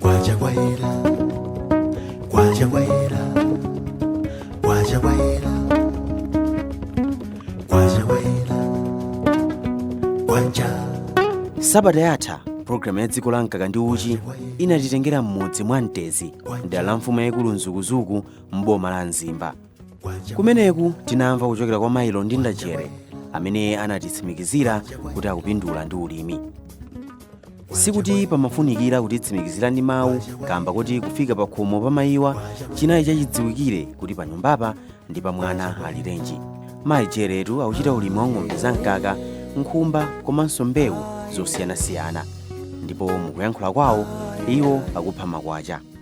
kwacha kwayera kwacha kwayera kwacha kwayera kwacha kwayera kwacha sabata yatha pulogalamu ya dziko la mkaka ndi uchi inatitengera m'mudzi mwa mtezi mdera la mfumu yayikulu mzukuzuku m'boma la mzimba kumeneku tinamva kuchokera kwa mayi londinda jere amene anatitsimikizira kuti akupindula ndi ulimi sikuti pamafunikira kutitsimikizira ndi mawu kamba koti kufika pa khomo pa mayiwa chinali chachidziwikire kuti pa nyumbapa ndi pa mwana alirenji mayi jeretu akuchita ulimi wa ng'ombe za mkaka nkhumba komanso mbewu zosiyanasiyana ndipo mukuyankhula kwawo iwo akupha makwacha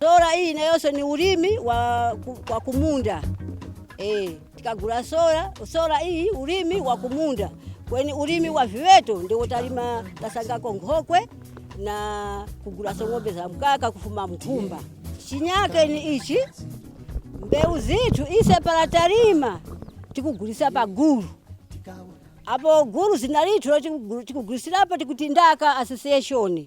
Sola iyi nayoso ni ulimi wa, ku, wa kumunda e, tikagula sola sola iyi ulimi wa kumunda kweni ulimi wa viweto ndiwo tazengako nkhokwe na kugulaso ng'ombe za mkaka kufuma mu nkhumba chinyake ni ichi mbewu zithu ise pala talima tikugulisa pa gulu apo gulu zina lithu tikugulisilapo tikuti ndaka association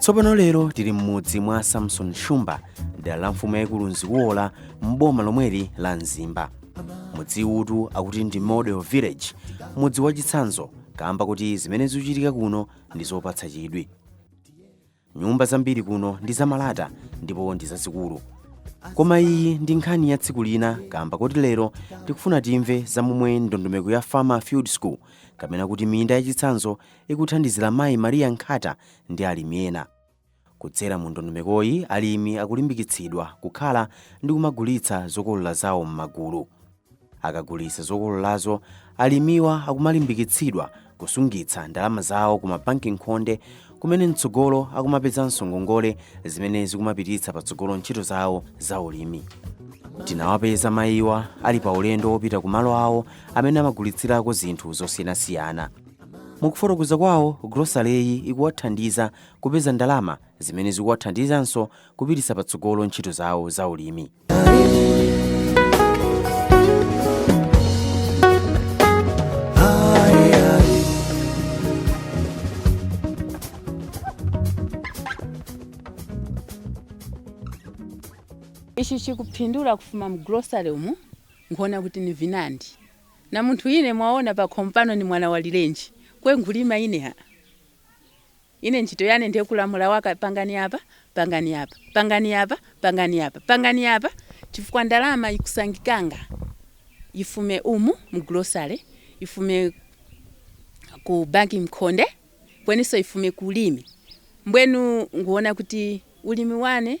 tsopano lero tili m'mudzi mwa samson shumba dera la mfumu yayikulu mzikubola m'boma lomweli la mzimba mudziwutu akuti ndi model village mudzi wachitsanzo kaamba koti zimene zikuchitika kuno ndi zopatsa chidwi. Nyumba zambiri kuno ndi zamalata ndipo ndi zazikulu. Koma iyi ndi nkhani ya tsiku lina kaamba koti lero tikufuna timve za momwe ndondomeko ya Farmer Field School kapena kuti minda yachitsanzo ikuthandizira mayi Maria Nkhata ndi alimi ena. Kudzera mu ndondomekoyi, alimi akulimbikitsidwa kukhala ndi kumagulitsa zokolola zawo m'magulu. Akagulitsa zokololazo, alimiwa akumalimbikitsidwa kusungitsa ndalama zawo ku mabanki mkhonde kumene mtsogolo akumapezanso ngongole zimene zikumapititsa patsogolo ntchito zawo za ulimi. Tinawapeza mayiwa ali pa ulendo wopita ku malo awo amene amagulitsirako zinthu zosiyanasiyana. Mu kufotokoza kwawo, gulosaleyi ikuwathandiza kupeza ndalama zimene zikuwathandizanso kupititsa patsogolo ntchito zawo zaulimi. ichi nkhupindula kufuma mu grocery umu nkhuwona kuti ni vinandi na munthu ine mwaona pakhomo pano ni mwana alirenji kwe nkhulima ine ha Ine ntchito yane ndiye kulamula waka pangani apa, pangani apa, pangani apa, pangani apa, pangani apa, chifukwa ndalama ikusangikanga ifume umu mu grocery, ifume ku banki mkhonde, kweniso ifume ku ulimi. Mbwenu nguona kuti ulimi wane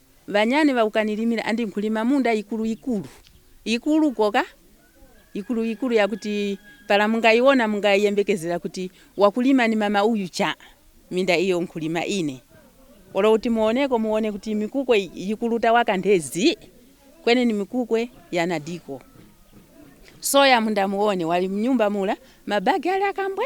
Banyani bakukanilimila andi nkulima munda ikulu ikulu ikulu koka ikulu ikulu yakuti pala mungaiona mungaiyembekezela kuti wakulima ni mama uyu cha minda iyo nkulima ine olo kuti muoneko muone kuti mikukwe yikulu tawakanthe zi kwene ni mikukwe yana diko soya munda muone wali mnyumba mula mabagi ali akambwe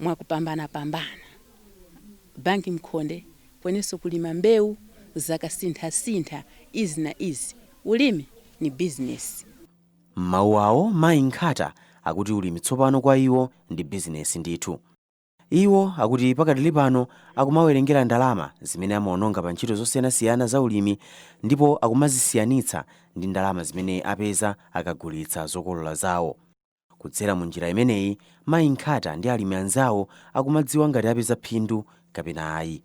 mwakupambanapambana. Banki mkhonde kweniso kulima mbeu zakasinthasintha izi na izi. Ulimi ni bizinesi. M'mawu awo, mayi Nkhata akuti ulimi tsopano kwa iwo ndi bizinesi ndithu. Iwo akuti pakadali pano akumawerengera ndalama zimene amaononga pa ntchito zosiyanasiyana za ulimi ndipo akumazisiyanitsa ndi ndalama zimene apeza akagulitsa zokolola zawo. Kudzera mu njira imeneyi, mayi Nkhata ndi alimi anzawo akumadziwa ngati apeza phindu kapena ayi.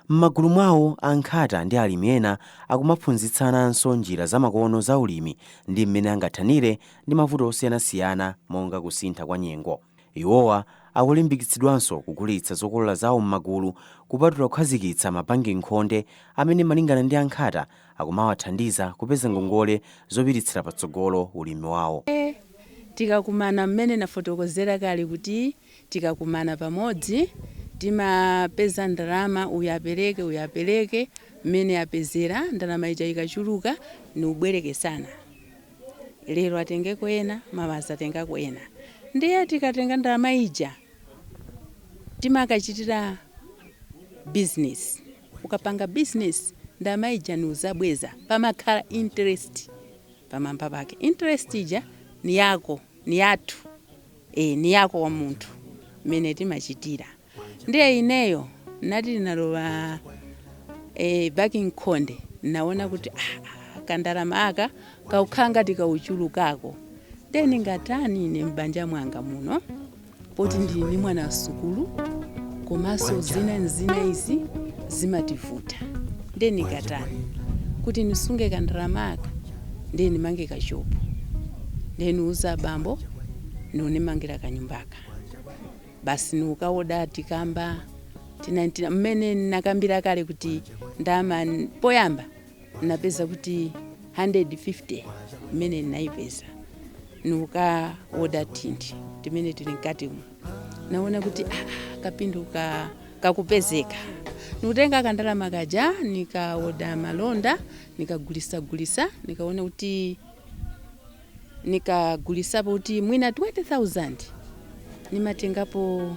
M'magulu mwawo, a Nkhata ndi alimi ena akumaphunzitsananso njira zamakono za ulimi ndi mmene angathanire ndi mavuto osiyanasiyana monga kusintha kwa nyengo. Iwowa akulimbikitsidwanso kugulitsa zokolola zawo m'magulu kupatula kukhazikitsa mabanki nkhonde amene malingana ndi a Nkhata akumawathandiza kupeza ngongole zopititsira patsogolo ulimi wawo. Tikakumana, mmene nafotokozera kale kuti tikakumana pamodzi timapeza ndalama uyu apereke uyu apereke mmene apezera ndalama ija ikachuluka niubwerekesana lero atengeko ena mawa atengako ena ndiye tikatenga ndalama ija timakachitira business. ukapanga business ndalama ija niuzabweza pamakhala interest pamamba pake interest ija niyako niyathu ee niyako wa munthu mmene timachitira ndiye ineyo nati nalowa e, banki mkhonde naona kuti ah, ah, kandalama aka kakukhala ngati kauchulukako ndiye ningatani ine m'banja mwanga muno poti ndili ndi mwana wasukulu komanso zina na zina izi zimativuta ndiye ningatani kuti nisunge kandalama aka ndiye nimange kashopu ndiye niuza abambo nikunimangira kanyumbaka basi nikukaoda tikamba tina tina mmene nakambira kale kuti ndama poyamba napeza kuti 150 imene naipeza nukaoda tinthu timene tili mkatimo naona kuti ah, kapindu kakupezeka nikutenga kandalama kaja nikaoda malonda nikagulisa gulisa nikaona kuti nikagulisapo kuti mwina 20000 nimatengapo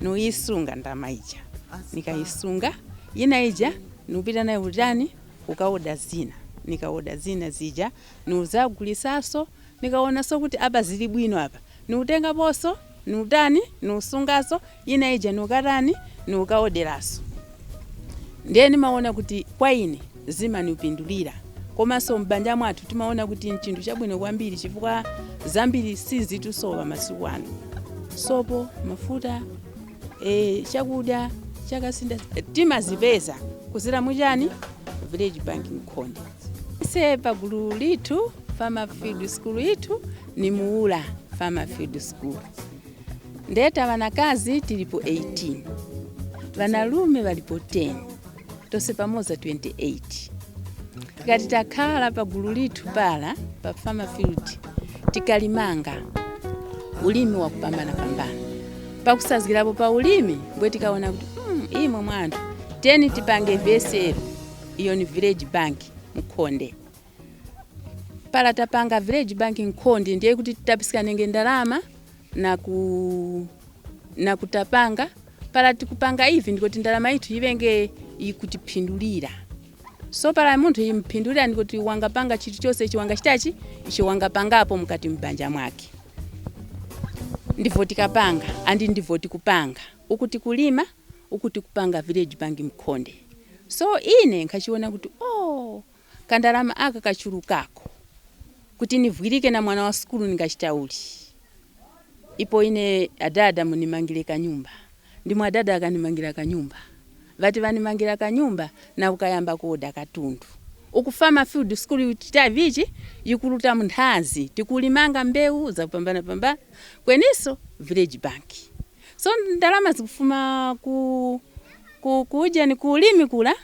nuyisunga ndalama ija nikayisunga yina ija nupita nayo kutani kukaoda zina nikaoda zina zija nuzagulisaso nikaonaso kuti apa zili bwino apa nutengaposo nutani nusungaso yina ija nukatani nukaodelaso. ndiye nimaona kuti kwa ine zimanipindulira komanso m'banja mwathu timaona kuti nchinthu chabwino kwambiri chifukwa zambiri sizitusowa masiku ano sopo mafuta e, chakudya chakasinda timazipeza kuzira mu chani village bank mkhonde ise pagulu lithu farmer field school ithu ni muula farmer field school nde ta banakazi tilipo 18 banalume balipo 10 tose pamoza 28 tikati takhala pa gulu lithu pala pa farmer field tikalimanga ulimi wakupambana pambana pakusazgirapo pa ulimi mbwe tikaona kuti mm, imwe mwa anthu tiyeni tipange vsl iyo ni village bank mkhonde pala tapanga village bank mkhonde ndiye kuti titapiskanenge ndalama na ku na kutapanga pala tikupanga ivi ndikuti ndalama ithu ivenge ikutipindulira so pala munthu impindulira ndikuti wangapanga chinthu chose icho wangachita chi icho wangapangapo mukati mbanja mwake ndivyo tikapanga and ndivyo tikupanga uku tikulima uku tikupanga village bank mkhonde so ine nkhachiona kuti oh kandalama aka kachulukako kuti nivwilike na mwana wa sukulu ningachita uli ipo ine adada munimangile kanyumba ndimwe adada akanimangila kanyumba vati vanimangila kanyumba na ukayamba kuoda katundu uku fama field sukulu ikuchita vichi yikuluta munthazi tikulimanga mbeu zakupambana pambana kweniso village bank so ndalama zikufuma ku ku kujeni ku ulimi kula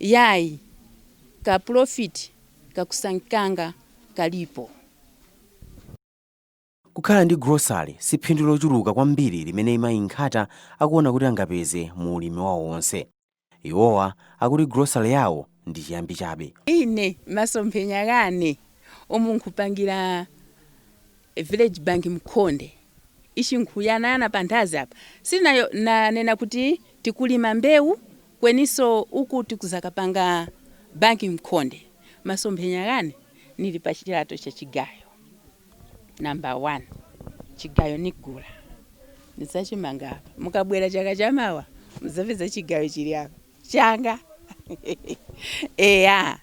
Yayi, ka profit kakusangikanga kalipo. Kukhala ndi grocery si phindu lochuluka kwambiri limene Mayi Nkhata akuona kuti angapeze mu ulimi wawo wonse. Iwowa akuti grocery yawo ndi chiyambi chabe. Ine masomphenya ghane umu nkhupangira village bank mkhonde ichi nkhughanaghana panthazi apa si nayo nanena kuti tikulima mbewu Kweniso uku tikuzakapanga banki mkhonde masomphenya ghane nili pa chilato cha chigayo number 1 chigayo nigula nizachimanga apa mukabwera chaka chamawa muzapeza chigayo chili apa changa eya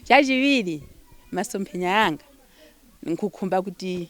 chachiwiri masomphenya anga nkhukhumba kuti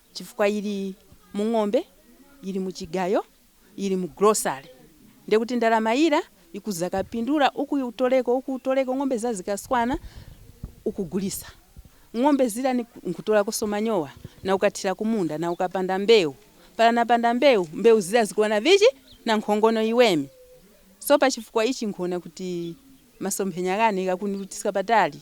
chifukwa ili mu ng'ombe ili mu chigayo ili mu grocery ndiye kuti ndalama ira ikuzakapindula uku utoleko uku utoleko ng'ombe za zikaswana ukugulisa ng'ombe zira nkhutolakoso manyowa na ukathira kumunda na ukapanda mbeu para napanda mbeu mbeu zira zikuwa na vichi na nkhongono iwemi so pa chifukwa ichi nkhuona kuti masomphenya ghane ghakunirutisa patali.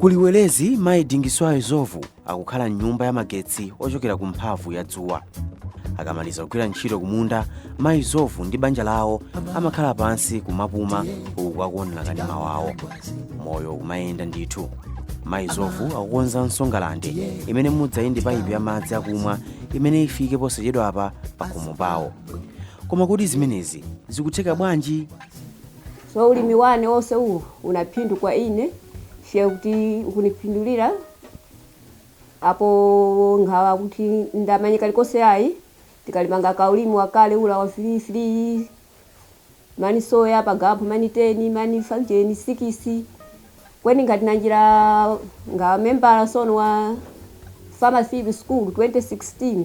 ku liwelezi mayi dingiswayo zovu akukhala mnyumba ya magetsi ochokera ku mphamvu ya dzuwa akamaliza kugwira ntchito kumunda mayi zovu ndi banja lawo amakhala pansi kumapuma uku akuonera kanema wawo moyo kumayenda ndithu mayi zovu akukonzanso ngalande imene mudzayende paipi ya madzi akumwa imene ifike posachedwa apa pakhomo pawo koma kodi zimenezi zikutheka bwanji So ulimi wane wose uwu una phindu kwa ine chifukwa kuti ukunipindulira apo nkhawa kuti ndamanye kalikose ayi tikalimanga ka ulimi wakale ula wa free free mani soya pagampho mani teni mani five sikisi kweni nkhati nanjira nga membala sono wa farmer field school 2016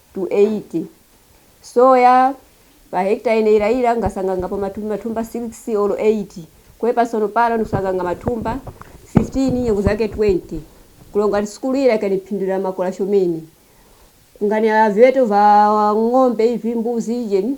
to 8. Soya, pa hekita ine ira ira nga sangangapo matumbi matumba 6 olo 8. Kwe pa sono pala no sanganga matumba 15 nyengo zake 20. Kulonga ni sukulu ira ikani phindu ira makola shomene. Nga ni a veto va ng'ombe ivi mbuzi ije ni.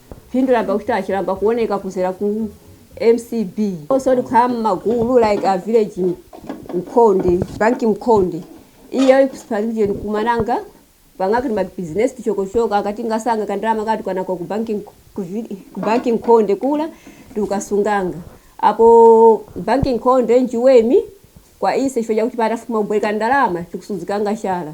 Phindu lamba kuchitachi lamba kuoneka kuzera ku MCB so tikukhala m'magulu like a village mkhonde, banki mkhonde, iye ikuspha region kumananga pang'aka ndi ma business tichokotichoko aka tingasanga kandalama katikana ku banki ku banki mkhonde kula tikukasunganga apo banki mkhonde njiwemi kwa ise chifukwa chakuti patafuma kubwereka ndalama tikusudzikanga chala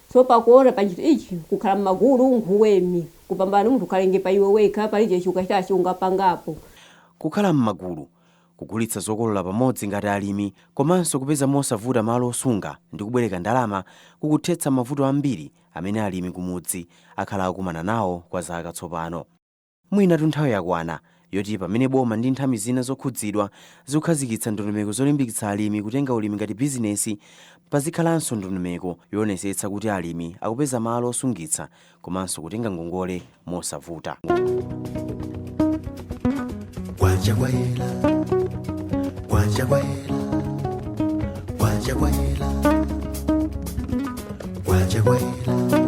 So pakuona pa chinthu ichi kukhala mmagulu nkhuwemi kupambana munthu ukhalenge pa iwe wekha palije chakuchitachi ungapangapo. Kukhala mmagulu, kugulitsa zokolola pamodzi ngati alimi komanso kupeza mosavuta malo osunga ndi kubwereka ndalama kukuthetsa mavuto ambiri amene alimi kumudzi akhala akukumana nawo kwa zaka tsopano. Mwinatu nthawi yakwana yoti pamene boma ndi nthambi zina zokhudzidwa zikukhazikitsa ndondomeko zolimbikitsa alimi kutenga ulimi ngati bizinesi, pazikhalanso ndondomeko yoonetsetsa kuti alimi akupeza malo osungitsa komanso kutenga ngongole mosavuta. Kwacha kwayela, kwacha kwayela, kwacha kwayela, kwacha kwayela.